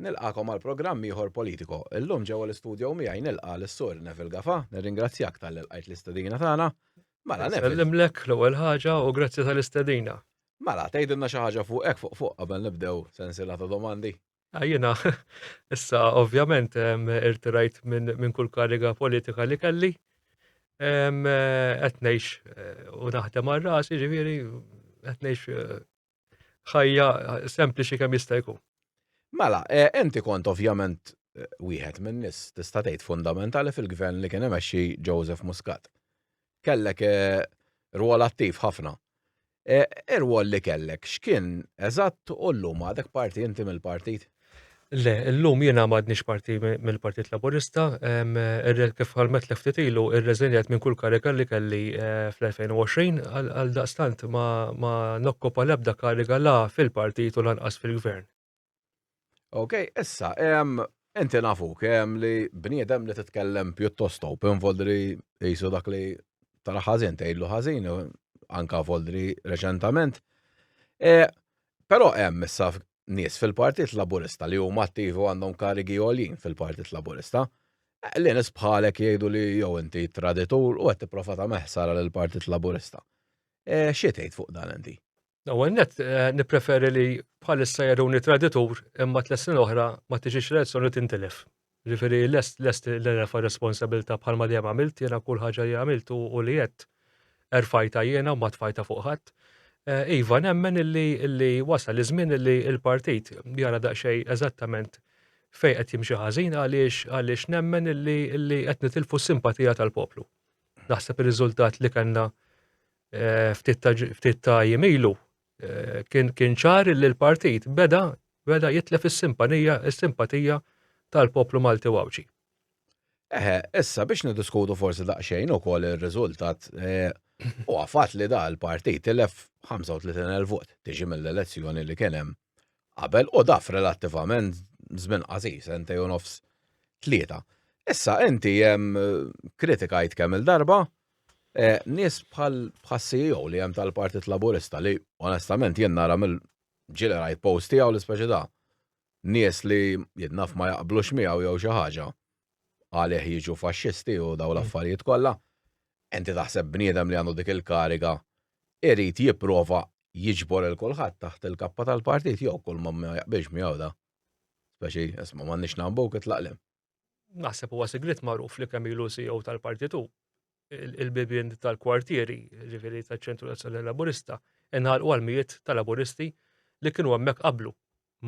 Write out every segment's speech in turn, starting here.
Nilqagħkom għal programm ieħor Politico. Illum ġewwa l-istudjo miegħi nilqa' lis-Sur Neville Gafa, nirringrazzjak talli lqajt l-istedina tagħna. Mela Neville. Sellimlek l-ewwel ħaġa u grazzi tal-istedina. Mela, tgħidilna xi ħaġa fuq hekk fuq fuq qabel nibdew sensiela ta' domandi. Ah, jiena, issa ovvjament irtirajt minn kull kariga politika li kelli. Qed ngħix eh, u naħdem għal rasi, ġifieri qed ngħix eh, ħajja sempliċi kemm jista' jkun. Mela, eh, inti kont ovvjament eh, wieħed minn nis tista' tgħid fundamentali fil-gvern li kien imexxi Joseph Muscat. Kellek eh, rwol attiv ħafna. Ir-rwol li kellek x'kien eżatt u llum għadek parti inti mill-partit? Le, illum jiena m'għadniex parti mill-Partit Laburista. Kif ħalmetlek ftit ilu, irreżenjajt minn kull kariga li kelli eh, fl-2020, għal daqstant ma nokkopa l-ebda kariga la fil-partit u lanqas fil-gvern. Ok, issa, inti nafuk li bniedem li titkellem pjuttost open voldri jisu dak li tara ħażin tgħidlu ħażin anka voldri reċentament. E, però hemm issa nies fil-Partit Laburista li huma attivi u għandhom karigi għoljin fil-Partit Laburista, li nies bħalek jgħidu li jew inti traditur u qed tipprova tagħmel ħsara lill-Partit Laburista. Eh, xi tgħid fuq dan inti? L-ewwel net eh, nippreferi li bħalissa jaruni traditur imma tles snin oħra ma tiġix l-elezzjoni tintilef. Jiġifieri lest lest li nerfa' r-responsabilità bħalma dejjem għamilt, jiena kull ħaġa li għamilt u u li għedt erfajtha jiena u ma tfajtha fuq ħadd. Eh, Iva, nemmen illi illi wasal iż-żmien illi l-partit jara daqsxejn eżattament fejn qed jimxi ħażin għaliex għaliex nemmen illi illi qed nitilfu s-simpatija tal-poplu. Naħseb ir-riżultat li kellna eh, ftit ta' ġ- ftit ta' jiem ilu Eh, kien kien ċar li l-partit beda beda jitlef is-simpanija, is-simpatija tal-poplu Malti Għawġi. Eħe, issa biex nidiskutu forsi daqsxejn ukoll ir-riżultat eh, u għafat li da l-partit tilef 35,000 vot tiġi mill-elezzjoni li kien hemm qabel u daf relattivament żmien qasir sentej u nofs tlieta. Issa inti hemm eh, kritikajt kemm il-darba Nies bħal bħas-CEO li hemm tal-Partit Laburista li onestament jien nara mill ġie li rajt post tiegħu li speċi da nies li jien naf ma jaqblux miegħu jew xi ħaġa għalih jiġu faxxisti u dawn l-affarijiet kollha. Inti taħseb bniedem li għandu dik il-kariga irid jipprova jiġbor lil kulħadd taħt il-kappa tal-Partit jew kulma ma jaqbilx miegħu da speċi isma' m'għandniex nagħmbuh itlaq lil hemm. naħseb huwa sigrit magħruf li kemm ilu CEO tal-partitu il-bibien tal-kwartieri, ġifiri tal-ċentru tal laburista inħal u għal-mijiet tal-laburisti li kienu għemmek qablu.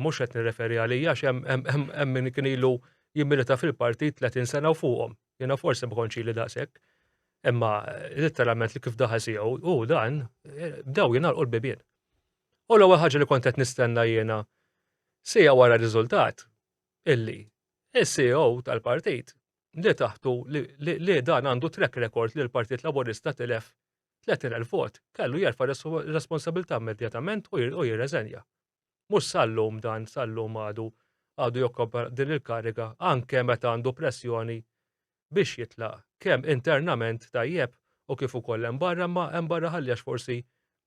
Mux għet nireferi għalija, xem għemmin kien ilu jimmilita fil-partit 30 sena u fuqom. Jena forse bħonċi li daqsek. Imma literalment li kif daħal si u dan, bdew jena l-bibien. U l-ewwel ħaġa li kontet nistenna jena sija wara r-riżultat, illi is-CEO tal-partit li taħtu li dan għandu track record li l-Partit Laburista tilef 30,000 vot kellu jerfa' responsabilità immedjatament u jirreżenja. Mhux sal-lum dan sal-lum għadu għadu jokkopa din il-kariga anke meta għandu pressjoni biex jitlaq kemm internament tajjeb u kif ukoll hemm barra imma hemm barra ħalli għax forsi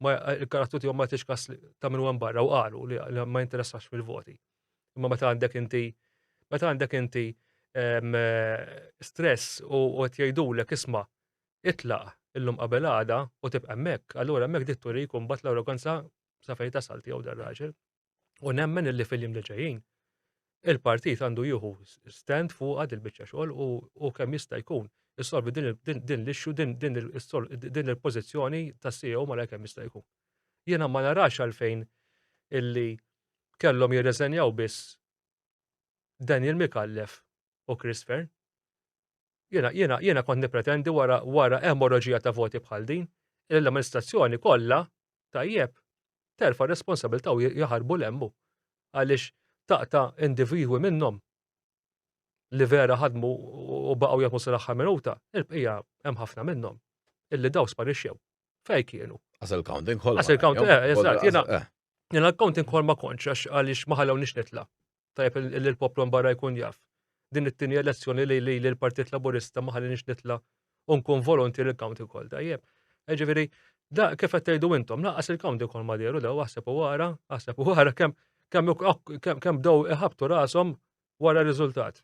ma il-karattru tiegħu ma jagħtix kas ta' min hemm barra u qalu li ma jinteressax fil-voti. Imma meta għandek inti meta għandek inti ehm, stress u qed jgħidulek isma' itlaq illum qabel għada u tibqa' hemmhekk, allura hemmhekk dit turi jkun bat l-arroganza sa fejn tasal tiegħu dar raġel. U nemmen illi fil-jiem li ġejjin il-partit għandu jieħu stand fuq għad il-bicċa xogħol u kemm jista' jkun issolvi din l-ixxu din il-pożizzjoni ta' CEO ma kemm jista' jkun. Jiena ma narax għalfejn illi kellhom jirreżenjaw biss Daniel Mikallef u Chris Fern. Jiena, jiena, jiena kont nippretendi wara wara emorraġija ta' voti bħal din, li l-amministrazzjoni kollha, tajjeb, terfa' r-responsabilità u jaħarbu 'l hemm hu. Għaliex taqta' individwi minnhom li vera ħadmu u baqgħu jaħdmu sal-aħħar minuta, il-bqija hemm ħafna minnhom illi daw sparixxew. Fejn kienu? Għas il-counting ħolma. Għas il-counting, eh, eżatt, jiena. Jiena l-counting ħolma konċ għaliex ma ħallewniex nitla'. tajjeb li l-poplu mbarra jkun jaf. Din it-tieni elezzjoni li li l-Partit Laburista ma ħallinix nitla' u nkun volontier il-county call tajjeb. Ġifieri, da kif qed tgħidu intom, laqas il-county call ma dieru daw aħseb u wara, aħseb u wara kemm kemm kemm bdew iħabtu rashom wara r-riżultat.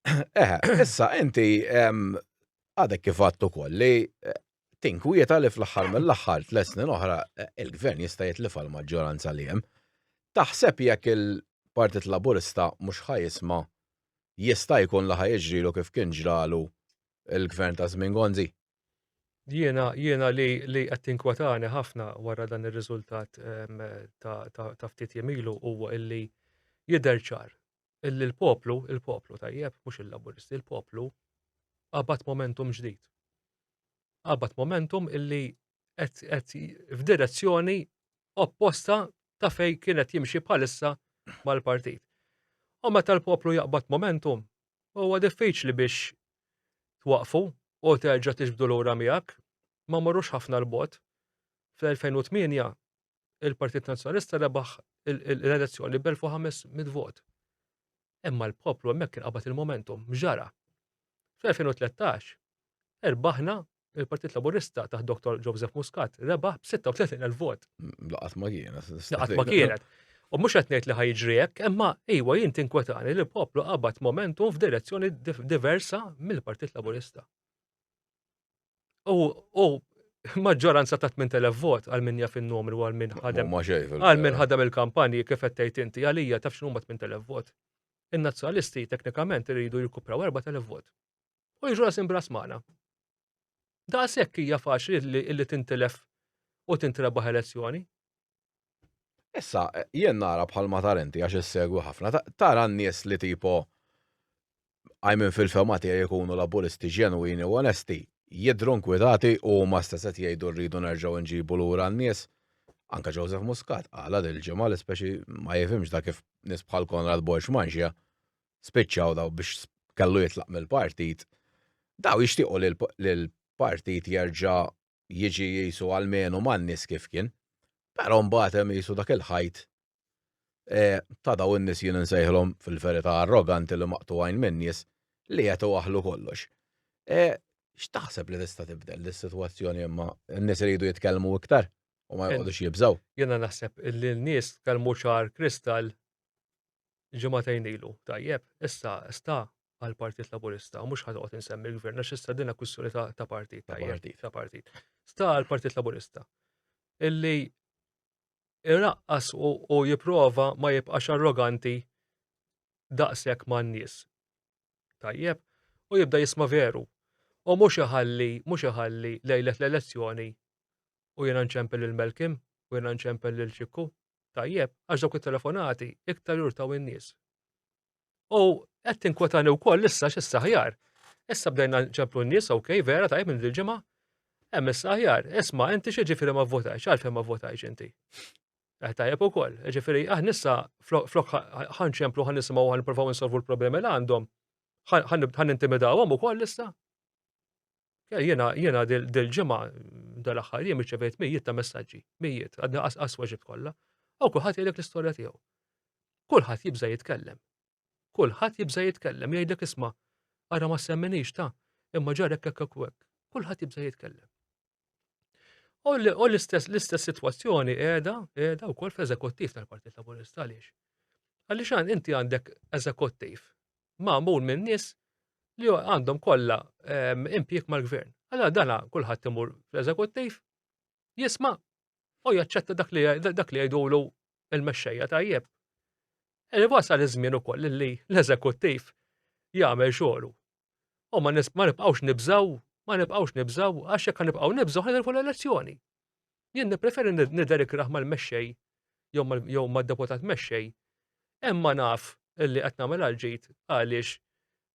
Eh, issa inti għadek kif għattu kolli tinkwieta li fl-aħħar mill-aħħar tliet snin oħra il-Gvern jista' jitlifha l-maġġoranza li hemm. Taħseb jekk il-Partit Laburista mhux ħa jisma' jista' jkun li ħa jiġrilu kif kien ġralu l-Gvern ta' żmien Gonzi? Jiena jiena li li qed tinkwetani ħafna wara dan ir-riżultat ta' ftit jiem ilu huwa illi jidher ċar il-poplu, il-poplu tajjeb, mhux il-laburisti, il-poplu qabad momentum ġdid. Qabad momentum illi qed f'direzzjoni opposta ta' fej kienet jimxi bħalissa mal-partit. U meta l-poplu jaqbad momentum, huwa diffiċli biex twaqfu u terġa' tiġbdu lura miegħek, ma morrux ħafna l-bot. Fl-2008 il-Partit Nazzjonalista rebaħ l-elezzjoni b'1500 vot. Imma l-poplu hemmhekk kien qabad il-momentum, ġara. Fl-2013, erbaħna il-Partit Laburista taħt Dr. Joseph Muscat rebaħ b'36,000 vot. Laqat ma kienet. Laqat ma kienet. U mhux qed ngħid li ħajġri hekk, imma iwa jien tinkwetani li l-poplu qabad momentum f'direzzjoni diversa mill-Partit Laburista. u maġġoranza ta' 8000 vot għal min jaf in-numru għal min ħadem. Għal min ħadem il-kampanji kif qed tgħid inti għalija taf x'numa 8000 vot. In-nazzjonalisti teknikament iridu jirkupraw 4000 vot. U jiġu rasim bras magħna. Daqshekk hija faċli li tintilef u tintrebaħ elezzjoni. Issa, jien nara bħal ma tarenti għax issegwi ħafna, tara n-nies li tipo għajmin fil-fema tiegħi jkunu laburisti ġenwini u onesti, jidhru nkwitati u huma stess qed jgħidu rridu nerġgħu nġibu lura n-nies. Anke Joseph Muscat qalha dil-ġimgħa li speċi ma jifhimx da kif nies bħal Konrad Borg Mangia spiċċaw daw biex kellu jitlaq mill-partit. Daw jixtiequ li l-partit jerġa' jiġi qisu almenu man-nies kif kien, però mbagħad hemm qisu dak il-ħajt ta' dawn in-nies jien insejħilhom fil-verità arroganti li maqtugħin min-nies li qed iwaħħlu kollox. X'taħseb li tista' tibdel dis-sitwazzjoni imma? In-nies iridu jitkellmu iktar u ma joqgħodux jibżgħu? Jiena naħseb li n-nies tkellmu ċar kristall ġimagħtejn ilu, tajjeb, issa sta għall-Partit Laburista, mhux ħadd toqgħod insemmi l-Gvern għax issa dinha kwistjoni ta' partit, ta' partit. Sta għall-Partit Laburista. Illi irraqqas u jipprova ma jibqax arroganti daqshekk man-nies. Tajjeb, u jibda jisma' veru. U mhux iħalli, mhux iħalli lejlet l-elezzjoni u jiena nċempel il-Melkim u jiena nċempel lil Ċikku Tajjeb, għax dawk it-telefonati iktar jurtaw in-nies. U qed tinkwetani wkoll issa x'issa ħjar. Issa bdejna ċemplu n-nies, ok, vera tajjeb minn dil-ġimgħa. Hemm issa ħjar, isma' inti xi ġifieri ma vvotajx, għalfejn ma vvotajx inti. Eh, tajjeb ukoll, ġifieri aħna issa flok ħan ċemplu ħan nisimgħu ħan nippruvaw insolvu l-problemi li għandhom, ħan intimidawhom ukoll issa. Jena, jena dil-ġimgħa dal-aħħar jien irċevejt mijiet ta' messaġġi, mijiet, għadna qas weġib kollha, u kulħadd jgħidlek l-istorja tiegħu. Kulħadd jibża' jitkellem. Kulħadd jibża' jitkellem jgħidlek isma' ara ma semminix ta' imma ġarek hekk hekk Kulħadd jibża' jitkellem. U l-istess l-istess sitwazzjoni qiegħda qiegħda wkoll fl-eżekuttiv tal-Partit Laburista għaliex. Għaliex inti għandek eżekuttiv magħmul minn nies li għandhom kollha ehm, impjieg mal-gvern. Allora dana kulħadd imur fl-eżekuttiv, jisma' u jaċċetta dak li dak li jgħidulu il-mexxejja tajjeb. Eli wasal iż-żmien ukoll li l-eżekuttiv jagħmel xogħlu. U ma nibqgħux nibżaw, ma nibqgħux nibżaw għax jekk nibqgħu nibżaw ħanilfu l-elezzjoni. Jien nippreferi nidher ikrah mal-mexxej jew mad-deputat mexxej, imma naf illi qed nagħmel għal ġid għaliex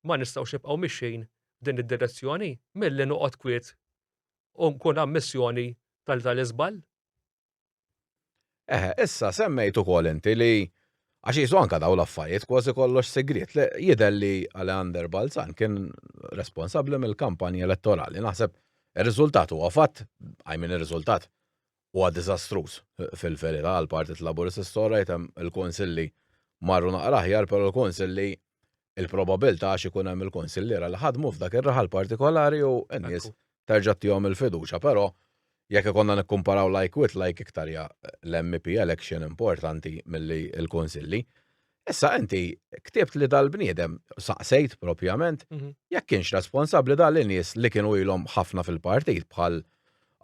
ma nistgħux nibqgħu mixjin f'din id-direzzjoni milli noqgħod kwiet u nkun ammissjoni tal-iżball. Eħe, issa semmejt ukoll inti li, għax qisu anke dawn l-affarijiet kważi kollox sigriet, le, jidher li Aleander Balzan kien responsabbli mill-kampanja elettorali. Naħseb ir-riżultat huwa fatt, I mean ir-riżultat huwa diżastruż fil-verità għall-Partit Laburist issa orajt hemm il-Kunsilli marru naqra aħjar però l-Kunsilli il-probabilità għax ikun hemm il-kunsilliera li ħadmu f'dak ir-raħal partikolari u n-nies terġa' tihom il-fiduċja, però jekk ikonna nikkumparaw like with like iktar hija l-MEP election importanti milli l-kunsilli. Issa inti ktibt li dal-bniedem saqsejt propjament mhm. jekk kienx responsabbli dal nies li kienu ilhom ħafna fil-partit bħal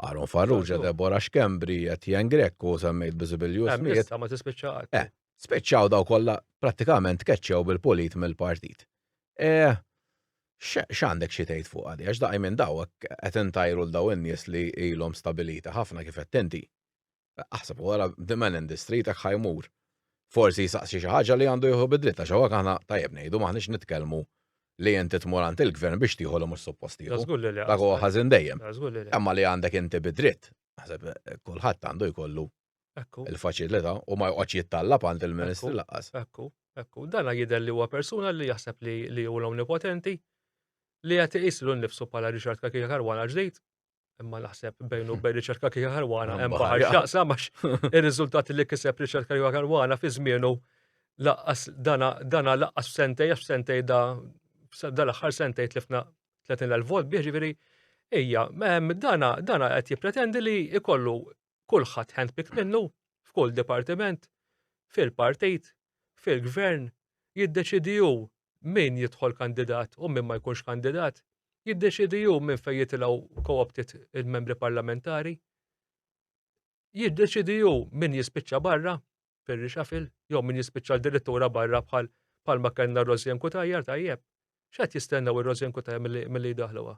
Aaron Farrugia, Deborah Xkembri, Etienne Grekku, semmejt Bizibilju Smith. Ma tispiċċaqat. Eh, Spiċċaw daw kollha prattikament tkeċċew bil-pulit mill-partit. E, x'għandek xi tgħid fuq għadi, għax daqi minn daw qed intajru l daw in-nies li ilhom stabilita ħafna kif qed tinti. Aħseb wara the man in the street hekk ħajmur. Forsi jsaqsi xi ħaġa li għandu jieħu bidliet għax hawnhekk aħna tajjeb ngħidu m'aħniex nitkellmu li inti tmur għand il-gvern biex tieħu li mhux suppost tieħu. Dak huwa ħażin dejjem. Imma li għandek inti bidritt, naħseb eh, kulħadd għandu jkollu Ekku. Il-faċilità u ma joqgħodx jittallab għand il-Ministri laqqas. Ekku, ekku. Dana jidher li huwa persuna li jaħseb li li hu l-omnipotenti li qed iqis lil nnifsu bħala Richard Kakija Karwana ġdid. Imma naħseb bejn u bejn Richard Kakija Karwana hemm baħar x'jaqsam għax ir-riżultati li kiseb Richard Kakija Karwana fi żmienu laqqas dana dana laqqas f'sentej għax f'sentej da dan l-aħħar sentej tlifna 30,000 vot bih ġifieri hija dana dana qed jippretendi li jkollu kulħadd handpicked minnu f'kull dipartiment, fil-partit, fil-gvern, jiddeċiedi hu min jidħol kandidat u min ma jkunx kandidat, jiddeċiedi hu minn fejn jitilgħu co-opted il-membri parlamentari, jiddeċiedi hu min jispiċċa barra, fir rixafil jew min jispiċċa l-dirittura barra bħal palma kellna Rosien Kutajjar tajjeb. X'qed jistennew ir-Rosien Kutajjar milli jdaħluha?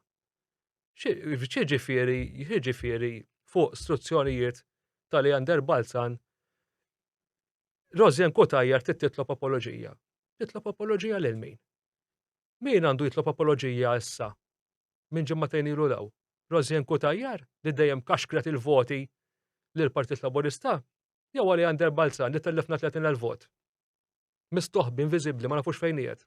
Xiġifieri, xiġifieri fuq struzzjonijiet ta' Leander Balzan Rosien Kutajjar trid titlob apoloġija. Titlob apoloġija lil min? Min għandu jitlob apoloġija issa? Minn ġimmatejn ilu law. Rosien Kutajjar li dejjem kaxkret il-voti l-Partit Laburista Jew għal Leander Balzan li tellefna 30,000 vot. Mistoħbi, inviżibbli, ma nafux fejn qiegħed.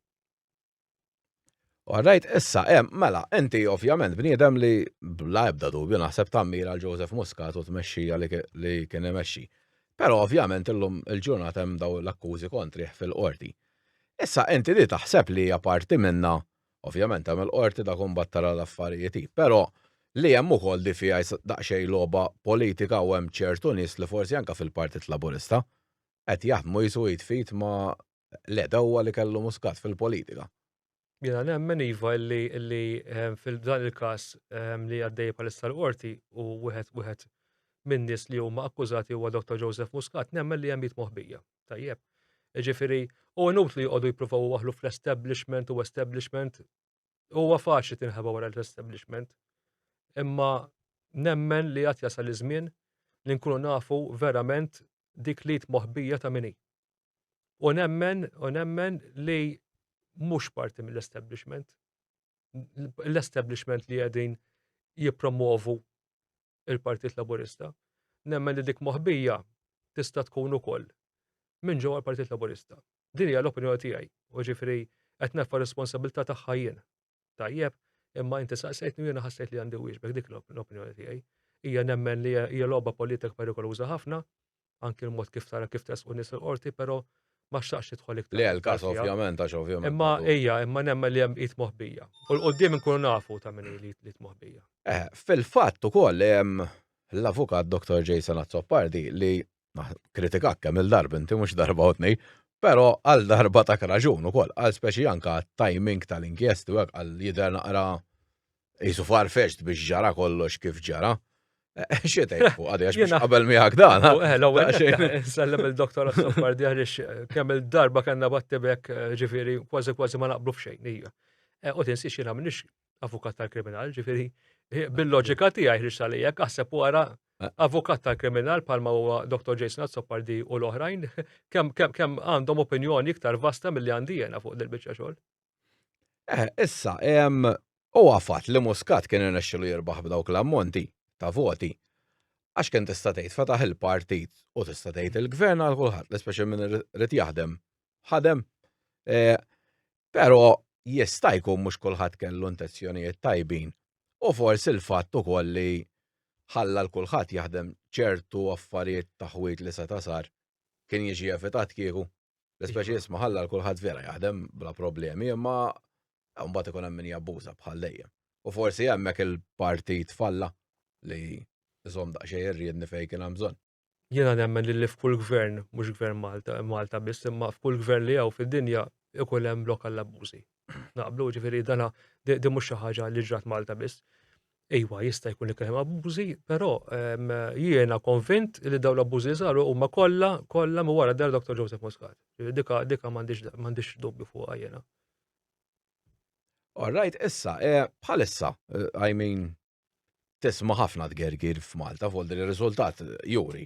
Għarrajt, issa, em, mela, inti ovvjament bniedem li bla ebda dubju naħseb tammir għal Joseph Muscat u tmexxija li kien imexxi. Pero ovvjament illum il-ġurnat hemm daw l-akkużi kontri fil-qorti. Issa inti li taħseb li hija parti minna Ovvjament hemm il-Qorti dak imbagħad tara l-affarijiet hi. Però li hemm ukoll di fiha daqsxejn logħba politika u hemm ċertu nies li forsi anke fil-Partit Laburista qed jaħdmu qisu id f'id ma' l-għedewwa li kellu Muscat fil-politika. Jiena nemmen iva illi illi f'dan il-każ li għaddej bħalissa l-Qorti u wieħed wieħed min-nies li huma akkużati huwa Dottor Joseph Muscat nemmen li hemm id moħbija. Tajjeb. Ġifiri, u għenut li jgħodu jiprufaw u għahlu fl-establishment u establishment, u għafaxi tinħeba wara l-establishment. Imma nemmen li għat jasal iż-żmien li nkunu nafu verament dik li moħbija ta' minni. U nemmen, u nemmen li mux parti mill-establishment. L-establishment li għedin jipromovu il-Partit Laburista, nemmen li dik moħbija tista' tkun ukoll minn ġewwa l-Partit Laburista. Din hija l-opinjoni tiegħi, u ġifieri qed nerfa' r-responsabilità tagħha jien. Tajjeb, imma inti saqsejtni u jiena ħassejt li għandi wieġbek dik l-opinjoni tiegħi. Hija nemmen li hija logħba politika perikoluża ħafna anki l-mod kif tara kif tresqu nies il-qorti, però ma xtaqx jidħol iktar. Le, l-każ ovvjament, għax ovvjament. Imma ejja, imma nemmen li hemm id moħbija. U l-qoddim nkunu nafu ta' min li id moħbija. Eh, fil-fatt ukoll hemm l-avukat Dr. Jason Azzopardi li kritikak kemm il-darb inti mhux darba u tnej, però għal darba ta' raġun ukoll, għal speċi anka timing tal-inkjesti u għal jidher naqra Jisu farfeċt biex ġara kollox kif ġara. Eh, Xietaj, u għadi għax biex qabel miħak dan. Eh, Sallem il-doktor għas-soffar diħrix eh, kemm il-darba kanna battibek ġifiri kważi kważi ma naqblu f'xejn. U tinsi xina minnix avukat tal-kriminal, ġifiri bil-loġika ti għaj ħriġ għalijek, għasab u għara avukat tal-kriminal palma u Dr. Jason Azzopardi u l-oħrajn, kem għandhom opinjoni iktar vasta mill-li għandi jena fuq dil-bicċa xol. Eh, issa, u għafat li Muscat kien irnexxilu jirbaħ b'dawk l-ammonti ta' voti. Għax kien tista' tgħid fetaħ il-partit u tista' tgħid il-gvern għal kulħadd, l-ispeċi minn rrid jaħdem. Ħadem. Eh, però jista' jkun mhux kulħadd kellu intenzjonijiet tajbin. U forsi l-fatt ukoll li ħalla l kulħadd jaħdem ċertu affarijiet ta' ħwid li seta' sar kien jiġi evitat kieku. L-ispeċi jisma ħalla l-kulħadd vera jaħdem bla problemi, imma mbagħad ikun hemm min jabbuża bħal dejjem. U forsi hemmhekk il-partit falla li żomm daqsxejn irriedni fejn kien hemm bżonn. Jiena nemmen li f'kull gvern, mhux gvern Malta, Malta biss, imma f'kull gvern li hawn fid-dinja ikun hemm lokal abbużi. naqblu ġifieri dana di mhux xi ħaġa li ġrat Malta biss. Iwa, jista' jkun li kien hemm abbużi, però ehm, jiena konvint li dawn l-abbużi saru huma kollha kollha ma wara dar Dr. Joseph Muscat. Dika dika m'għandix dubju fuqha jiena. All right, issa, eh, bħalissa, eh, I mean, tisma' ħafna tgergir f'Malta f'għodd li r-riżultat juri.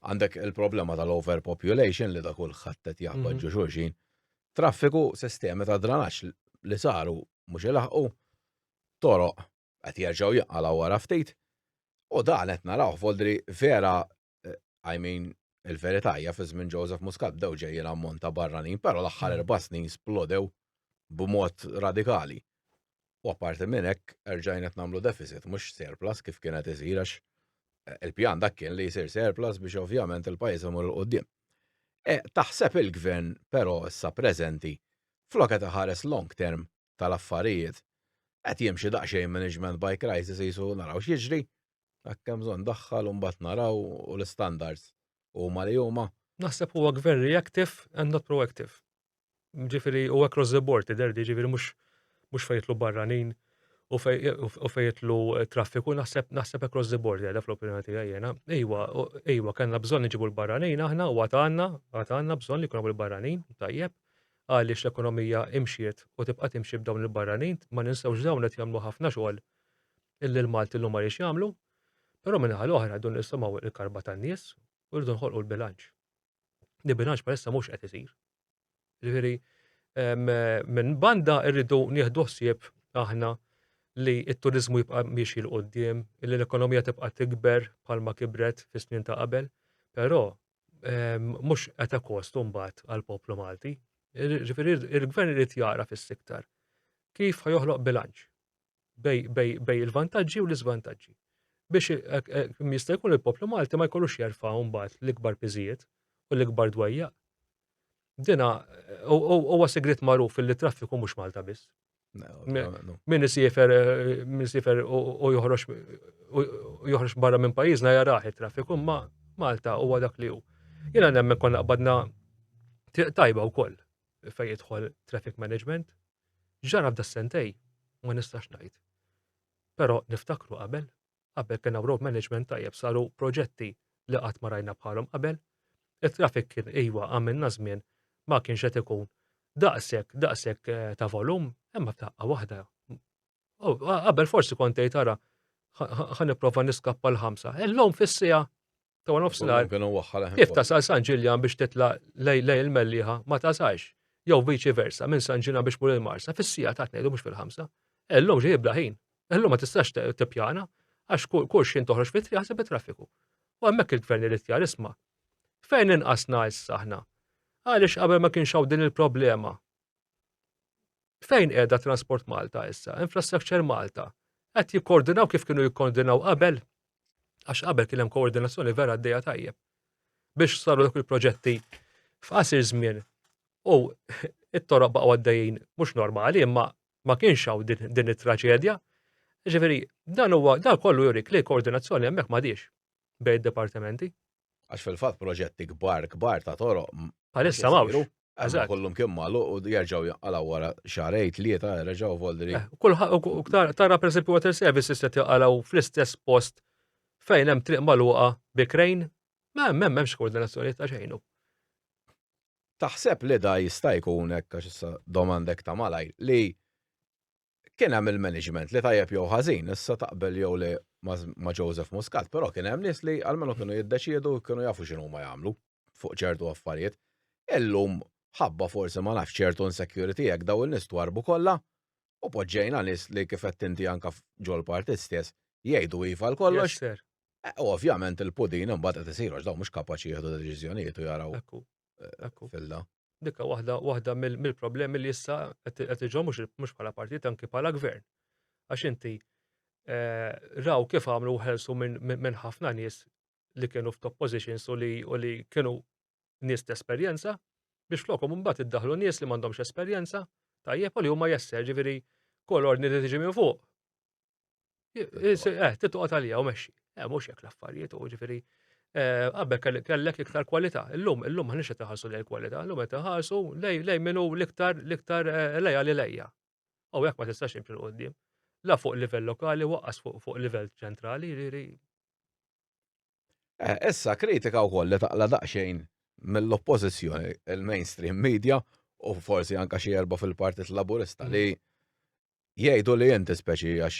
Għandek il-problema tal-overpopulation li ta' kulħadd qed jaqbad ġo xulxin. Traffiku, sistemi ta' dranaġġ li saru mhux ilaħqu, toroq qed jerġgħu jinqalgħu wara ftit. U dan qed narawh f'għodd li vera I mean, il-verità hija fi żmien Joseph Muscat bdew ġejjin ammont ta' barranin, però l-aħħar mm. erba' snin splodew b'mod radikali. U apparti minn hekk erġajn qed nagħmlu deficit mhux surplus kif kien qed isir għax eh, il-pjan dak kien li jsir surplus biex ovvjament il-pajjiż imur il qudiem e, Taħseb il-gvern però issa preżenti flok qed iħares long term tal-affarijiet qed jimxi daqsxejn management by crisis jisu naraw x'jiġri Jekk hemm bżonn daħħal u mbagħad naraw u l-istandards huma li huma. Naħseb huwa gvern reactive and not proactive. Ġifieri u across the board tidher di ġifieri mhux mhux fejn jitlu barranin u fejn jitlu traffiku naħseb naħseb across the board jgħidha fl-opinjoni tiegħi jiena. Ejwa, ejwa kellna bżonn niġibu l-barranin aħna u għad għandna, għad għandna bżonn li jkun hawn il-barranin tajjeb għaliex l-ekonomija imxiet u tibqa' timxi b'dawn il-barranin ma ninsewx dawn qed jagħmlu ħafna xogħol illi l-Malti llum ma riex jagħmlu, però min-naħa l-oħra rridu nisimgħu l-karba tan-nies u rridu nħolqu l-bilanċ. Li bilanċ bħalissa mhux qed isir. Ġifieri minn banda rridu nieħdu ħsieb aħna li t-turizmu jibqa' miexi l qoddim li l-ekonomija tibqa' tikber bħalma kibret fis-snin ta' qabel, però ehm, mhux qed kostu mbagħad għall-poplu Malti. Ġifieri il-gvern irid jara fis-siktar kif ħajoħloq bilanċ bej il-vantaġġi u l-iżvantaġġi. Biex e, e, jista' jkun il-poplu Malti ma jkollux jerfa' mbagħad l-ikbar piżijiet u l-ikbar dwejja. Dina huwa sigrit magħruf li traffiku mhux Malta biss. Min isifer min isifer u joħroġ joħroġ barra minn pajjiżna jarah it-traffiku ma Malta huwa dak li hu. Jiena nemmen konna qbadna triq tajba wkoll fejn jidħol traffic management X'ġara f'da s-sentej ma nistax ngħid. Però niftakru qabel, qabel kien hawn road management tajjeb saru proġetti li qatt ma rajna bħalhom qabel. It-traffic kien iva għamilna żmien ma kienx qed ikun daqshekk daqshekk ta' volum imma f'daqqa waħda qabel forsi kont tgħid ara ħa nipprova niskappa l-ħamsa. Illum fis-siegħa ta' nofsinhar kif tasal San Ġiljan biex titla' lej lej il-Melliħa ma tasalx. Jew viċi versa minn San Ġiljan biex mur il-Marsa fis-sija ta' tnejn u mhux fil-ħamsa. Illum ġej bla ħin. Illum ma tistax tippjana għax kull xejn toħroġ fit-triq ħaseb it-traffiku. U hemmhekk il-gvern irid jar isma'. Fejn inqasna issa aħna? Għaliex qabel ma kienx hawn din il-problema? Fejn qiegħda Transport Malta issa? Infrastructure Malta? Qed jikkoordinaw kif kienu jikkoordinaw qabel? Għax qabel kien hemm koordinazzjoni vera għaddejja tajjeb. Biex saru dak il-proġetti f'qasir żmien u it-toroq baqgħu għaddejjin mhux normali imma ma kienx hawn din it-traġedja. Ġifieri, dan huwa dan kollu jurik li koordinazzjoni hemmhekk m'għadix bejn id-dipartimenti. Għax fil-fatt proġetti kbar kbar ta' toroq. Għalissa mawx. Għazak. Kollum kim malu u jarġaw jaqalaw wara xarej, tlieta, reġaw voldri. Eh, Kulħaq, tara per esempio water services li jaqalaw fl-istess post fejn hemm triq maluqa bikrejn, ma hemm hemm hemmx koordinazzjoni ta' xejnu. Taħseb li da jista' jkun hekk għax issa domandek ta' malaj li kien hemm il-management li tajjeb jew ħażin, issa taqbel jew le ma' Joseph Muscat, però kien hemm nies li għalmenu kienu jiddeċiedu kienu jafu x'inhu huma jagħmlu fuq ċertu affarijiet. Illum ħabba forsi ma nafx ċertu insecurity hekk daw in-nies twarrbu kollha u poġġejna nies li kif qed inti anke ġol-partit stess jgħidu iva għal kollox. Eh, ovvjament il-pudin imbagħad qed isiru daw mhux kapaċi jieħdu deċiżjonijiet u jaraw. filla. Dikka waħda waħda mill-problemi li issa qed iġhom mhux bħala partit anki bħala gvern. Għax inti eh, raw kif għamlu ħelsu minn ħafna nies li kienu f'top positions u li kienu nies t-esperjenza biex flokom mbagħad iddaħlu nies li m'għandhomx esperjenza tajjeb u li huma jesser ġifieri kol ordni li tiġi minn fuq Eh, titqgħod għalija u mexxi. Eh, mhux hekk l-affarijiet u ġifieri eh, qabel kellek iktar kwalità. Illum, illum ħanix qed iħarsu lejn kwalità, illum qed iħarsu lejn minnu l-iktar l-iktar eh, lejja li lejja. U jekk ma tistax imxi l-qoddim. La fuq livell lokali waqqas fuq livell ċentrali, ġifieri. Issa kritika wkoll li taqla daqsxejn mill-oppożizzjoni il-mainstream media u forsi anka xi erba' fil-Partit Laburista li Jgħidu li inti speċi għax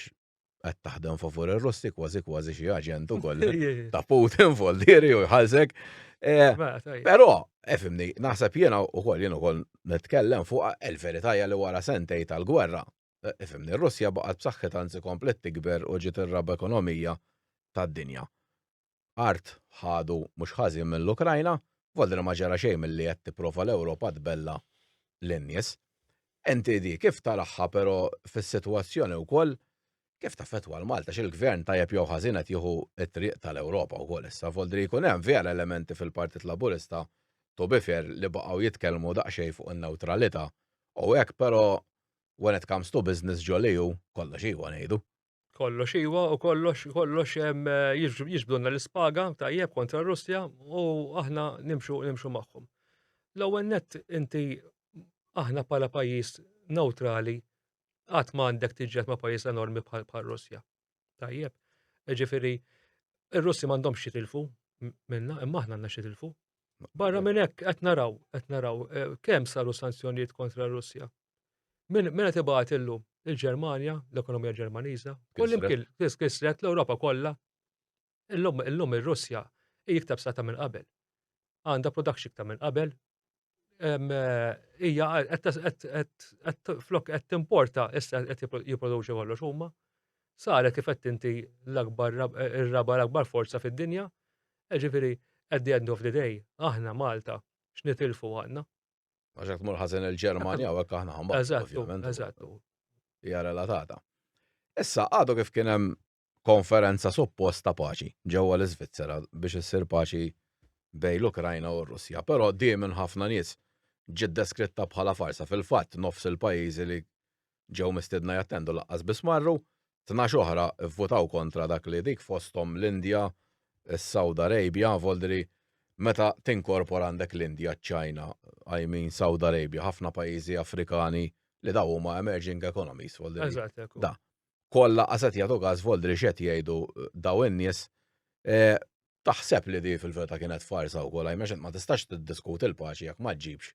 qed taħdem favur ir-Russi kważi kważi xi aġent ukoll ta' Putin foldieri u jħallsek. Eh, però, efimni, eh, naħseb jiena ukoll jien ukoll nitkellem fuq il-verità li wara sentej tal-gwerra. Efimni, eh, Russja baqgħet b'saħħitha anzi komplet tikber u ġiet ir-raba ekonomija tad-dinja. art ħadu mhux ħażin mill-Ukrajna, volli li ma ġara xejn milli qed tipprova l-Ewropa tbella' lin-nies. Inti di kif taraha però fis-sitwazzjoni wkoll kif taffettwa 'l Malta x'il-Gvern tajjeb jew ħażin qed jieħu t-triq tal-Ewropa wkoll issa, volli li jkun hemm vera elementi fil-Partit Laburista to be fair li baqgħu jitkellmu daqsxejn fuq in-newtralita' u hekk però when it comes to business ġo l-EU kollox iwa ngħidu. Kollox iwa u kollox kollox jiġbdunna l-ispaga tajjeb kontra r-Russja u aħna nimxu nimxu magħhom. L-ewwel net inti aħna bħala pajjiż neutrali qatt ma għandek tiġġed ma' pajjiż enormi bħal Russja. Tajjeb. Ġifieri ir-Russi m'għandhomx jitilfu minna imma aħna għandna xitilfu. Barra minn hekk qed naraw, qed naraw eh, kemm saru sanzjonijiet kontra r-Russja. Min qed ibgħat illum? Il-Ġermanja, l-ekonomija Ġermaniża, kullimkien kisret l-Ewropa kollha. Illum illum ir-Russja hi iktar b'sata minn qabel. Għandha production iktar minn qabel. Hija qed flok qed timporta issa qed jipproduċi kollox huma. Saret kif qed inti l-akbar ir-raba l-akbar forza fid-dinja. Ġifieri at the end of the day aħna Malta x'nitilfu għandna. Għaxek tmur ħazen il-Ġermanja u għek aħna ħamba. Eżattu, eżattu. Hija relatata. Issa, għadu kif kien hemm konferenza supposta paċi ġewwa l-Iżvizzera biex issir paċi bej l-Ukrajna u r-Russja, però di minn ħafna nies ġiet deskritta bħala farsa fil-fatt nofs il-pajjiżi li ġew mistiedna jattendu lanqas biss marru, tnax oħra vvutaw kontra dak li dik fosthom l-Indja, is-Saud Arabia, voldri meta tinkorpora għandek l-Indja, ċ-Ċina, I mean Saud Arabia, ħafna pajjiżi Afrikani li dawn huma emerging economies voldri. Eżatt hekk hu. Da. Koll lanqas qed jagħtu każ voldri x'qed jgħidu dawn in-nies. Taħseb li di fil-verità kienet farsa wkoll għax ma tistax tiddiskuti l-paċi jekk ma ġġibx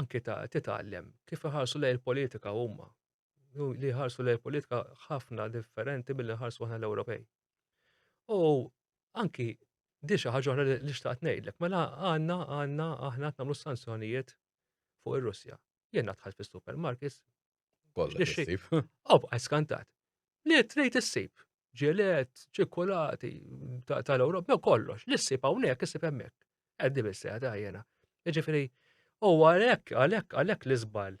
anke ta' titgħallem kif iħarsu lejn il-politika huma. Li jħarsu lejn il-politika ħafna differenti billi nħarsu aħna l-Ewropej. U anki di xi ħaġa oħra li xtaqt ngħidlek, mela għandna għandna aħna qed nagħmlu sanzjonijiet fuq ir-Russja. Jien dħalt fis-supermarkets, Kollha issib. Oh, għaj skantat. Li trejt issib. Ġelet, ċikkulati, tal-Ewropa, no kollox. Li ssib hawnhekk, issib hemmhekk. Għaddi bissejja ta' jena. Ġifieri, u għalhekk, għalhekk, għalhekk li żball.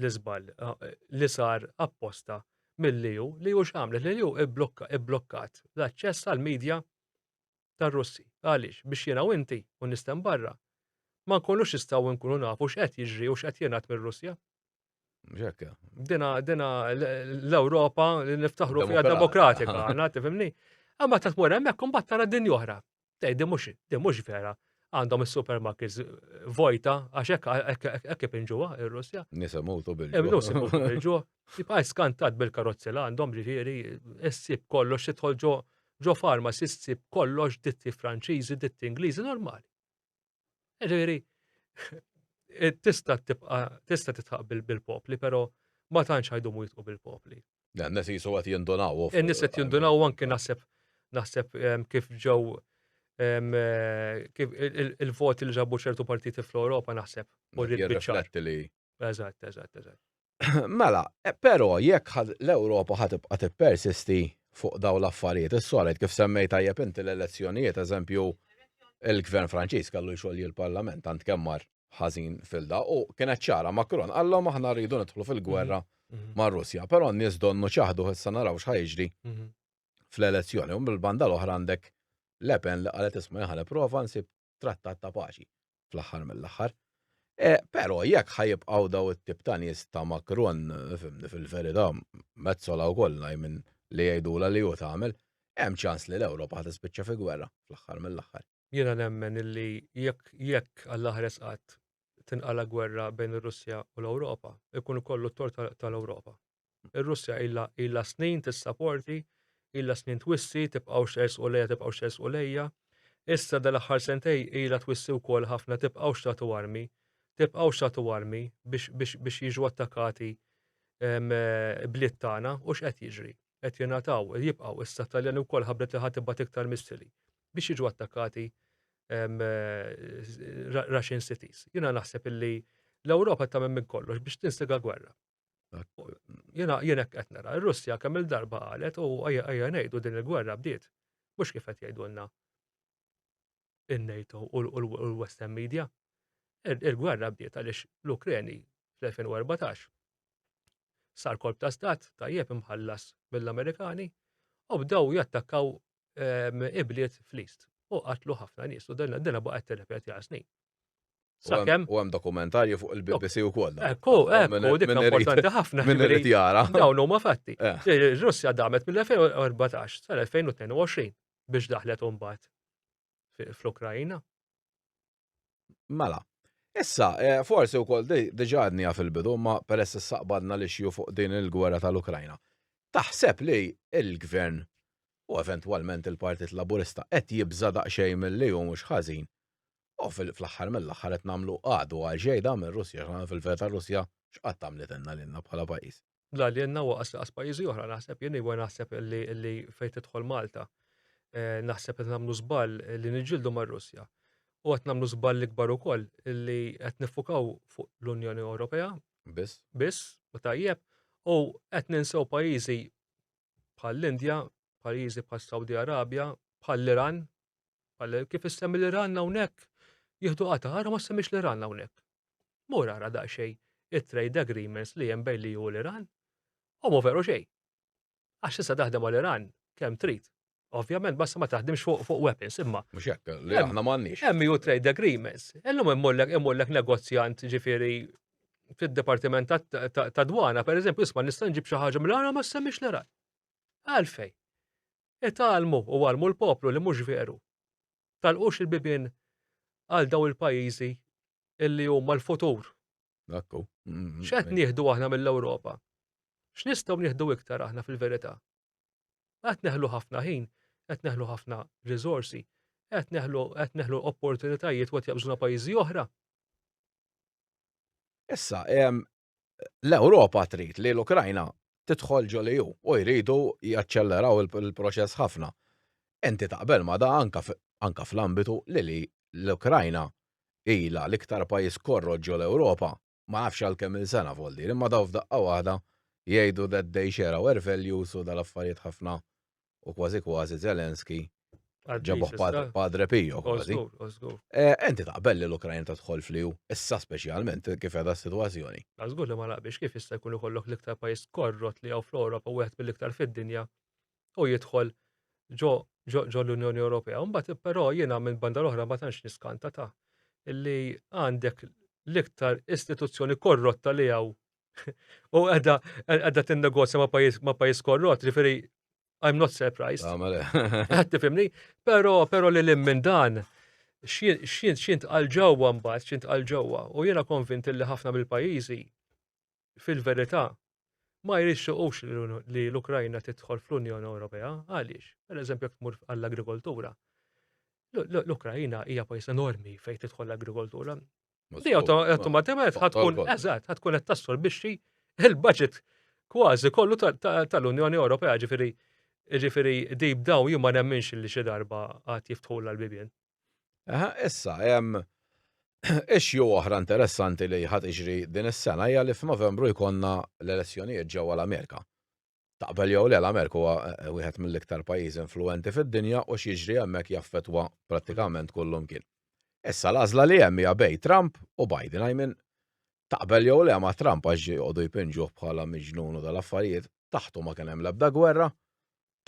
Li żball eh, li sar apposta mill-liju, li ju xamlet, li ju ibblokkat l-aċċess għal-medja tar-Russi. Għaliex? Biex jiena u inti, u n-nies t'hemm barra, ma nkunux nistgħu nkunu nafu x'qed jiġri u x'qed jingħad mir-Russja. Mhux hekk. Dina dina l-Ewropa li niftaħru fiha demokratika, għandna tifhimni. Imma ta' tmur hemmhekk imbagħad tara din oħra. Tgħid din mhux din mhux vera. Għandhom is-supermarkets vojta għax hekk hekk inġuha ir-Russja. Nisa mutu bil-ġuħ. Nisa mutu bil-ġuħ. Tibqa' skantat bil-karozzi li għandhom ġifieri issib kollox tidħol ġo ġo farmas issib kollox ditti Franċiżi, ditti Ingliżi normali. Ġifieri eh, tista' tibqa' tista' titħaq bil-popli, però ma tantx ħajdumu jitqu bil-popli. Dan nes jisu għat jindunaw. Nes għat jindunaw anki naħseb naħseb ehm, kif ġew ehm, eh, kif il-voti li ġabu ċertu partiti fl-Europa naħseb. U rrit Eżatt, eżatt, eżatt. Mela, e, però jekk l-Ewropa ħad tibqa' tippersisti fuq daw l-affarijiet is-solid kif semmej tajjeb inti l-elezzjonijiet eżempju il-Gvern Franċiż kellu jxogħol il-Parlament tant kemm mar ħażin filda u kienet ċara Macron għallhom aħna rridu nidħlu fil-gwerra mhm, mhm. ma' Russja, però n-nies donnu ċaħdu issa naraw x'ħajġri mhm. fl-elezzjoni u mill-banda l-oħra għandek Lepen li qalet isma' jaħle prova nsib trattat ta' paċi fl-aħħar mill-aħħar. E, Però jekk ħajibqgħu daw it-tip ta' nies ta' Macron fimni fil-verità mezzola wkoll minn li jgħidula li hu tagħmel, hemm ċans li l-Ewropa ħad tispiċċa fi gwerra fl-aħħar mill-aħħar. Jiena nemmen illi jekk jekk għall-aħres qatt tinqala gwerra bejn ir-Russja u l-Ewropa, ikun kollu t-tort tal-Ewropa. Ir-Russja ilha ilha snin tissaporti, ilha snin twissi, tibqgħux tersqu lejha, tibqgħux tersqu lejja. Issa dal-aħħar sentej ilha twissi wkoll ħafna tibqgħux tagħtu armi, tibqgħux tagħtu armi biex biex biex jiġu attakkati ehm, bliet tagħna u x'qed jiġri. Qed jingħataw, jibqgħu issa Taljani wkoll ħabbret li ħadd tibgħat iktar missili biex jiġu attakkati ehm, Russian cities. Jiena naħseb illi l-Ewropa tagħmel minn kollox biex tinsega gwerra. Jena jena qed nara, ir-Russja kemm il-darba qalet u għajja ngħidu din il-gwerra bdiet. Mhux kif qed jgħidulna in-NATO u l-Western Media. Il-gwerra bdiet għaliex l-Ukreni fl-2014 sar kolb ta' stat tajjeb imħallas mill-Amerikani u bdew jattakkaw ehm, ibliet fl-East u qatlu ħafna nies u dinna baqgħet tirrepeti għal snin. Sakemm. U hemm dokumentarju fuq il-BBC u koll. Ekku, ekku, dik importanti ħafna. Minn irid jara. Dawn huma fatti. Eh. Ir-Russja damet mill-2014 sal-2022 biex daħlet umbat fl-Ukrajina. Mela, Issa, eh, forsi u koll diġa għadnija fil-bidu, ma peress s-saqbadna li xju fuq din il-gwerra tal-Ukrajna. Taħseb li il-gvern u eventualment il-Partit Laburista qed jibża daqsxejn mill-li u mhux ħażin U fl-aħħar mill-aħħar qed nagħmlu għadu għal ġejda mir-Russja, x'għana fil-verità r-Russja x'qatt għamlitilna lilna bħala pajjiż. La lilna u qas pajjiżi oħra naħseb jien iva naħseb li fejn tidħol Malta eh, naħseb qed nagħmlu żball li niġġieldu mar-Russja. U qed nagħmlu żball l-ikbar ukoll li qed nifukaw fuq l-Unjoni Ewropea. Biss. Biss, u tajjeb, u qed ninsew pajjiżi bħall-Indja, pajjiżi bħas-Sawdi Arabja, bħall-Iran, bħal kif issemmi l-Iran hawnhekk, jieħdu qata' ara ma semmix l-Iran hawnhekk. Mur ara daqsxejn it-trade agreements li hemm bejn li u l-Iran, u mu veru xejn. Għax tista' taħdem mal-Iran kemm trid, Ovvjament, basta ma taħdimx fuq fuq weapons, imma. Mux jekk, li aħna m'għandniex. Hemm ju trade agreements. Illum immollek immollek negozjant ġifieri fid-Dipartiment ta' Dwana, per eżempju, isma' nista' nġib xi ħaġa mill-għara ma semmix l Għalfej. Italmu u għalmu l-poplu li mhux veru. Talqux il-bibien għal daw il-pajjiżi illi huma l-futur. Dakku. Mm-hmm. X'qed nieħdu aħna mill-Ewropa? X'nistgħu nieħdu iktar aħna fil-verità? Qed neħlu ħafna ħin, qed neħlu ħafna riżorsi, qed neħlu qed neħlu opportunitajiet u qed jaqbżuna pajjiżi oħra. Issa, l-Ewropa trid li l-Ukrajna tidħol ġol EU u jridu jaċċelleraw il-proċess ħafna. Inti taqbel ma' da anka fl-ambitu li l-Ukrajna ilha l-iktar pajjiż korrot ġol-Ewropa ma nafx għal kemm-il sena f'Għoldieri, imma daw f'daqqa waħda jgħidu that they share our values u dal-affarijiet ħafna u kważi kważi Zelensky ġabuh Padre Pio kważi. Enti taqbel li l-Ukrajna tadħol fl-EU, issa speċjalment kif edha s-sitwazzjoni. Żgur li ma naqbilx kif issa jkun ikollok l-iktar pajjiż korrot li hawn fl-Ewropa wieħed mill-iktar fid-dinja u jidħol ġo ġo l-Unjoni Ewropea. Mbagħad però jiena minn banda l-oħra ma tantx niskanta ta' li għandek l-iktar istituzzjoni korrotta li hawn u għedha għedha tinnegozja ma' pajjiż ma' pajjiż korrott, ġifieri I'm not surprised. Ah, mela. Għad tifhimni, però però li lim minn dan xint għal ġewwa mbagħad, xint għal ġewwa u jiena konvint li ħafna mill-pajjiżi fil-verità, ma jrixxuqux li l-Ukrajna tidħol fl-Unjoni Ewropea. Għaliex? Per eżempju, jekk tmur għall-agrikoltura. L-Ukrajna hija pajjiż enormi fejn tidħol l-agrikoltura. Li automatikament ħatkun eżatt, ħatkun qed tassol biex il-budget kważi kollu tal-Unjoni Ewropea ġifieri ġifieri deep daw jien ma nemminx li xi darba għad jiftħu l-bibien. Aha, issa, hemm issue oħra interessanti li ħad iġri din is-sena hija li f'Novembru jkollna l-elezzjonijiet ġewwa l-Amerika. Taqbel jew le l-Amerika huwa eh, wieħed mill-iktar pajjiżi influenti fid-dinja u x'jiġri hemmhekk jaffetwa prattikament kullum kien. Issa l-għażla li hemm hija bej Trump u Biden, I mean, taqbel jew le ma' Trump għax joqogħdu jpinġuh bħala miġnunu tal-affarijiet, taħtu ma kien hemm l-ebda gwerra,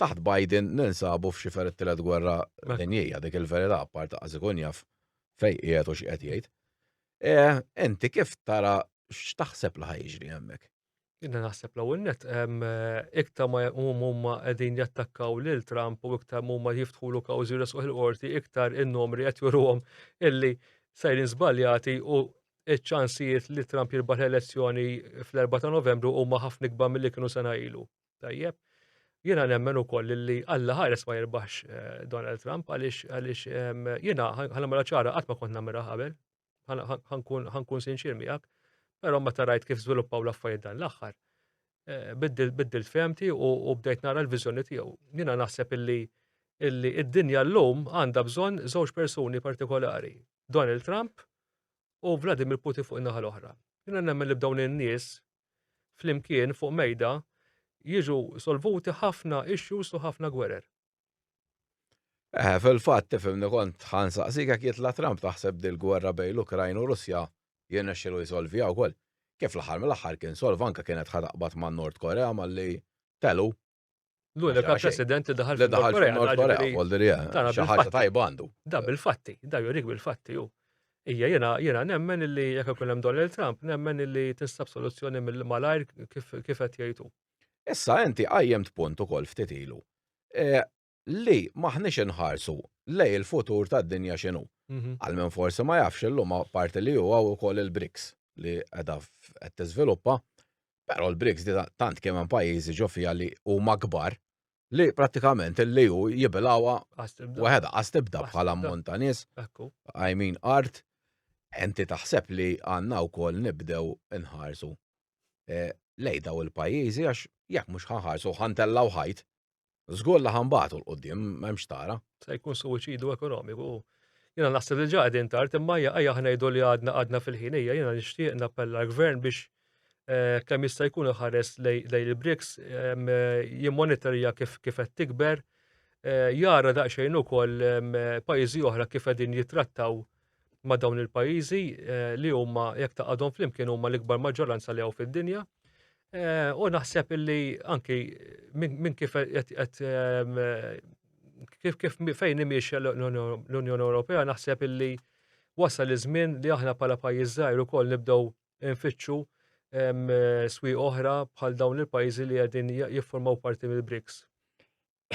taħt Biden ninsabu f'xifer it-tielet gwerra dinjija, dik il-verità apparti qas ikun jaf fejn qiegħed u x'qed jgħid. Eh, inti kif tara x'taħseb li ħajġri hemmhekk? Jina naħseb l-ewwel net iktar ma huma qegħdin jattakkaw lil Trump u iktar huma jiftħulu kawżi resquħ il-qorti iktar in-numri qed juruhom illi sejrin żbaljati u ċ-ċansijiet li Trump jirbaħ l-elezzjoni fl-4 ta' Novembru huma ħafna ikbar milli kienu sena ilu. Tajjeb. Jiena nemmen ukoll li Alla ħares ma jirbaħx eh, Donald Trump għaliex għaliex ehm, jiena ħanamela ċara qatt ma kont nagħmilha qabel. Ħankun sinċir miegħek, però meta rajt kif żviluppaw l-affarijiet dan l-aħħar. Eh, biddilt femti u bdejt nara l-viżjoni tiegħu. Jiena naħseb illi illi id-dinja llum għandha bżonn żewġ persuni partikolari. Donald Trump u Vladimir Putin fuq in-naħa l-oħra. Jiena nemmen li b'dawn in-nies flimkien fuq mejda jiġu solvuti ħafna issues u ħafna gwerer. Eħe, fil-fatt, tifhimni kont ħa nsaqsik jekk jitla' Trump taħseb dil-gwerra bejn l-Ukrajna u Russja jirnexxielu jsolviha wkoll? Kif fl-aħħar mill-aħħar kien solva anke kienet ħa taqbad man-Nord Korea malli telu L-unika president li daħal fil-Korea. Korea, xi ħaġa tajba għandu. Da bil-fatti, da jurik bil-fatti hu. Ija jena, jena nemmen illi jekk ikun hemm Donald Trump, nemmen illi tinsab soluzzjoni mill-malajr kif qed jgħidu. Issa inti qajjem punt ukoll ftit ilu. E, li m'aħniex inħarsu lej il-futur tad-dinja x'inhu. Mhm. Għal min forsi ma jafx illum parti li huwa wkoll il-BRICS li qiegħda qed tiżviluppa, però l-BRICS di tant kemm hemm pajjiżi ġo fiha li huma kbar li prattikament li hu jibilgħuha waħedha qas tibda bħala ammont ta' nies, I mean art, enti taħseb li għandna wkoll nibdew inħarsu eh, lej daw il-pajjiżi għax jekk mhux ħanħarsu ħantellaw ħajt Żgur li ħambatu l-qudiem, m'hemmx tara. Se jkun suwiċidu ekonomiku. Jiena naħseb li ġa qegħdin tard imma hija ejja aħna ngħidu li għadna għadna fil-ħinija jiena nixtieq nappella l-gvern biex eh, kemm jista' jkun iħares lejn il-BRICS ehm, jimmonitorja kif kif qed tikber eh, jara daqsxejn ukoll ehm, pajjiżi oħra kif qegħdin jittrattaw ma' dawn il-pajjiżi eh, li huma jekk taqadhom flimkien huma l-ikbar maġġoranza li hawn fid-dinja. Eh, u naħseb illi anki minn kif qed ehm, kif kif fejn imiex l-Unjoni Ewropea naħseb illi wasal iż-żmien li aħna bħala pajjiż żgħir ukoll nibdew nfittxu ehm, swi oħra bħal dawn il-pajjiżi li qegħdin jiffurmaw parti mill-BRICS.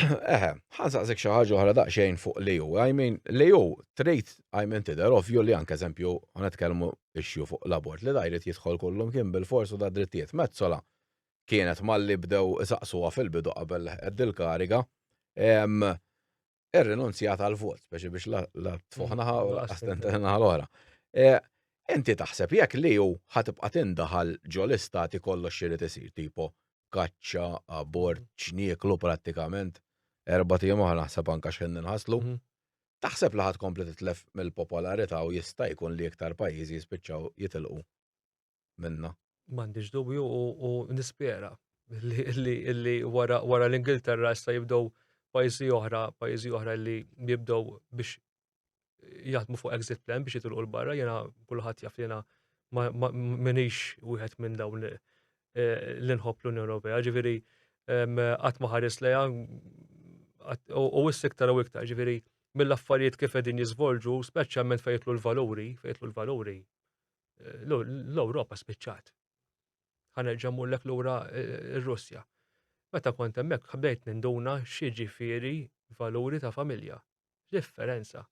Eħe, ħa nsaqsik xi ħaġa oħra daqsxejn fuq l-EU. I mean, l-EU trid I mean tidher ovvju li anke eżempju ħa nitkellmu issue fuq l-abort li da jrid jidħol kollu mkien bil-fors u da drittijiet. Metsola kienet malli bdew isaqsuha fil-bidu qabel leħqet dil-kariga irrinunzjat għall-vot speċi biex la tfuħ naħa u la naħa l-oħra. E, inti taħseb jekk li hu ħatibqa' tindaħal ġol-istati kollox irid isir tipo kaċċa, abort, ċnieklu prattikament, erba' tiem oħra naħseb anka x'ħin nħaslu. Mhm. Taħseb li ħadd kompli titlef mill-popolarità u jista' jkun li iktar pajjiżi jispiċċaw jitilqu minna. M'għandix dubju u nispera li wara l-Ingilterra issa jibdew pajjiżi oħra, pajjiżi oħra li jibdew biex jaħdmu fuq exit plan biex jitilqu l-barra, jena kullħat jaf jena minix wieħed minn dawn eh, l-inħob l-Unjoni Ewropea, ġifiri għat maħares leja u s-sektar u iktar, ġifiri mill-affarijiet kif edin jizvolġu, speċjalment fejtlu l-valuri, fejtlu l-valuri, eh, l-Europa spiċċat. Ħanerġa mullek l-ura eh, r-Russja. Meta kont hemmhekk ħbdejt ninduna xi ġifieri valuri ta' familja. X'differenza?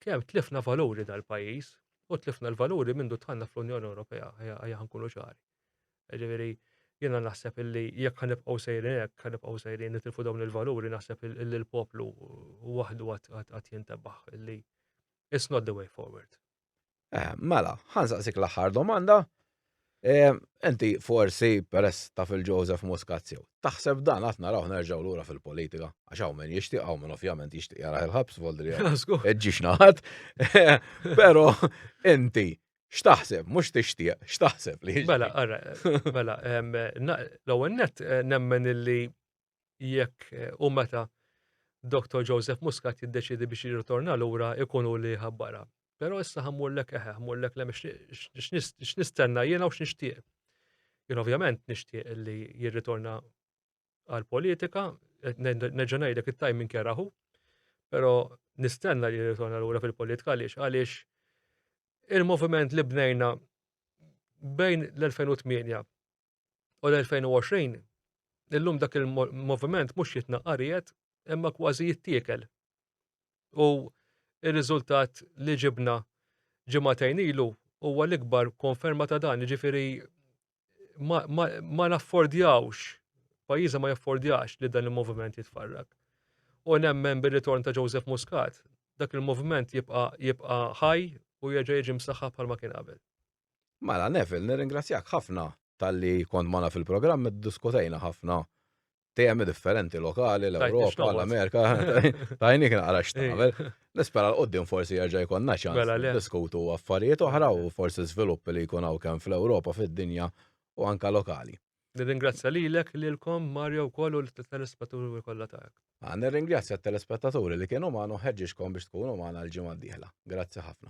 Kemm tlifna valuri dal-pajjiż u tlifna l-valuri mindu tħanna fl-Unjoni Ewropea, ħajja ħankunu ċari. Ġifieri, jiena naħseb illi jekk ħanibqgħu sejrin hekk, ħanibqgħu sejrin nitilfu dawn il-valuri, naħseb illi l-poplu waħdu għad jintebaħ illi it's not the way forward. Eh, mela, ħansaqsik l-aħħar domanda. Eh, enti forsi peress ta' fil-Joseph Muscazio, taħseb dan għat naraw nerġaw lura fil-politika, għax hawn min jixtieq hawn min ovvjament jixtieq jara il-ħabs voldri ġiex naħat. Però inti x'taħseb, mhux tixtieq, x'taħseb li. Mela, ara, mela, l-ewwel net eh, nemmen illi jekk u meta Dr. Joseph Muscat jiddeċidi biex jirritorna lura ikunu li ħabbara. Però issa ħammurlek eħe, ħammurlek lem x'nistenna jiena u x'nixtieq. Jien ovvjament nixtieq li jirritorna għal politika, nerġa' ngħidlek it-timing keraħu, però nistenna li jirritorna lura fil-politika għaliex għaliex il-moviment li bnejna bejn l-2008 u l-2020, illum dak il-moviment mhux jitnaqqa ried imma kważi jittiekel. U ir-riżultat li ġibna ġimagħtejn ilu huwa l-ikbar konferma ta' dan, jiġifieri ma, ma, ma naffordjawx, pajjiżna ma jaffordjax li dan il-moviment jitfarrak. U nemmen bir-ritorn ta' Joseph Muscat, dak il-moviment jibqa' jibqa' ħaj u jerġa' jiġi msaħħa bħalma kien qabel. Mela, Neville, nirringrazzjak ħafna talli kont magħna fil-programm, iddiskutejna ħafna temi differenti lokali, l-Ewropa, l-Amerika, tajnik naqra x'tagħmel. Nispera l-qoddim forsi jerġa' jkollna ċans Mela le. diskutu affarijiet oħra u forsi żviluppi li jkun hawn kemm fl-Ewropa, fid-dinja u anka lokali. Nirringrazzja lilek, lilkom, Mario wkoll u l-telespettaturi kollha tagħek. Ah, Nirringrazzja t-telespettaturi li kienu magħna u ħeġġiġkom biex tkunu magħna l-ġimgħa d-dieħla. Grazzi ħafna.